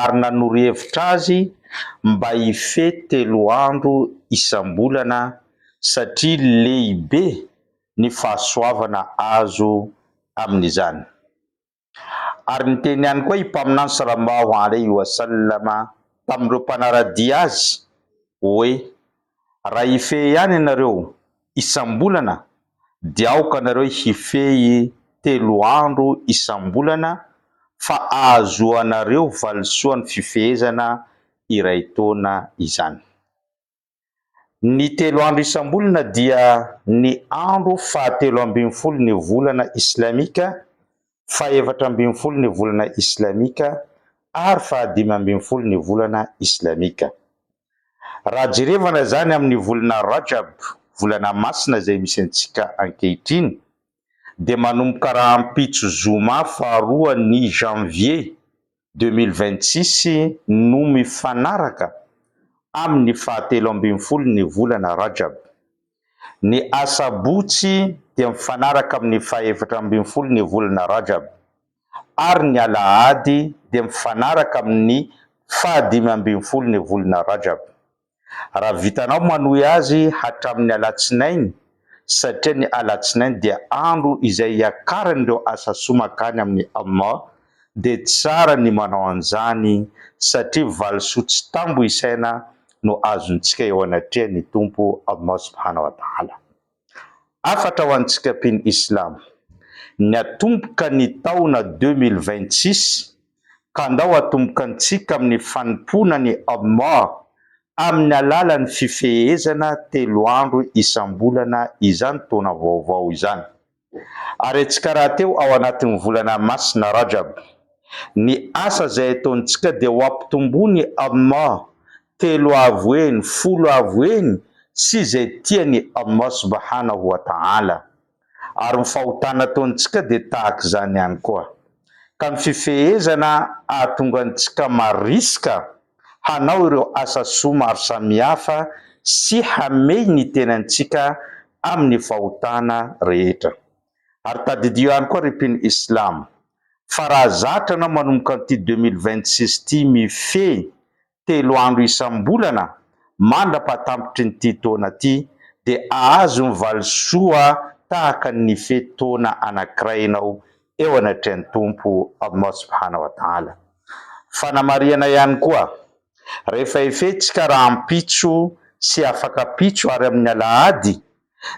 ary nanoro hevitra azy mba hifehy telo andro isam-bolana satria lehibe ny fahasoavana azo amin'izany. Ary niteny ihany koa i Mpaminany Salallahu alaihi wa sallam tamin'ireo mpanara-dia azy hoe. Raha hifehy ihany ianareo isam-bolana dia aoka anareo hifehy telo andro isam-bolana fa ahazoanareo valisoan'ny fifehezana iray taona izany. Ny telo andro isam-bolana dia ny andro fahatelo ambin'ny folo ny volana islamika, fahefatra ambin'ny folo ny volana islamika ary fahadimy ambin'ny folo ny volana islamika. Raha jerevana izany amin'ny volana Rajab, volana masina izay misy antsika ankehitriny, dia manomboka rahampitso zoma faharoa ny Janvier deux mille vingt six no mifanaraka amin'ny fahatelo ambin'ny folo ny volana Rajab. Ny asabotsy dia mifanaraka amin'ny fahefatra ambin'ny folo ny volana Rajab. ary ny alahady dia mifanaraka amin'ny faha dimy ambin'ny folo ny volana Rajab, raha vitanao manohy azy hatramin'ny alatsinainy, satria ny alatsinainy dia andro izay hiakaran'ireo asa soa mankany amin'i Allah, dia tsara ny manao an'izany satria valisoa tsy tambo isaina no azontsika eo anatrehan'ny Tompo Allah subhanahu wa ta'ala. Hafatra ho an'ny tsikapin Islam. Ny atomboka ny taona deux mille vingt six ka ndao atomboka antsika amin'ny fanompoana ny Allah amin'ny alalan'ny fifehezana telo andro isam-bolana izany taona vaovao izany. Ary antsika rahateo ao anatin'ny volana masina Rajab. Ny asa izay ataontsika dia ho ampitomboin'i Allah telo avo eny, folo avo eny sy izay tian'i Allah Subhanahu wa Ta'ala. Ary ny fahotana ataontsika dia tahaka izany ihany koa. Ka ny fifehezana ahatonga antsika mariska hanao ireo asa soa maro samihafa sy hamehy ny tenantsika amin'ny fahotana rehetra. Ary tadidio ihany koa ry mpino Islam fa raha zatra anao manomboka an'ity deux mille vingt six ity mifehy telo andro isam-bolana mandra-pahatampitry ny ity taona ity dia ahazo ny valisoa tahaka ny fe taona anankiray ianao eo anatrehan'ny Tompo Allah Subhana wa Ta'ala. Fanamarihana ihany koa, rehefa efentsika rahampitso sy afakampitso ary amin'ny alahady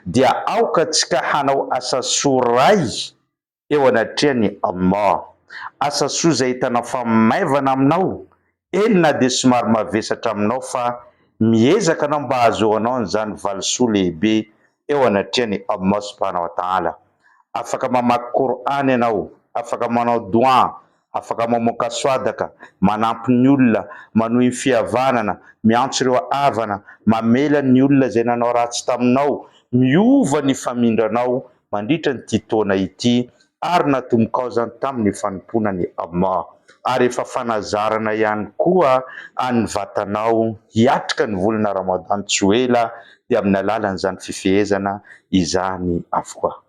dia aoka tsika hanao asa soa iray eo anatrehan'i Allah. Asa soa izay ahitana fahamaivana aminao, eny na dia somary mavesatra aminao fa miezaka anao mba hahazoanao an'izany valisoa lehibe eo anatrehan'i Allah subhanahu wa ta'ala. Afaka mamaky Qur'an ianao, afaka manao doua, Afaka mamoaka soadaka, manampy ny olona, manohy ny fihavanana, miantso ireo havana, mamela ny olona izay nanao ratsy taminao, miova ny famindranao mandritra an'ity taona ity, ary natombokao izany tamin'ny fanompoana an'i Allah. Ary efa fanazarana ihany koa an'ny vatanao hiatrika ny volana Ramadan tsy ho ela dia amin'ny alalan'izany fifehezana izany avokoa.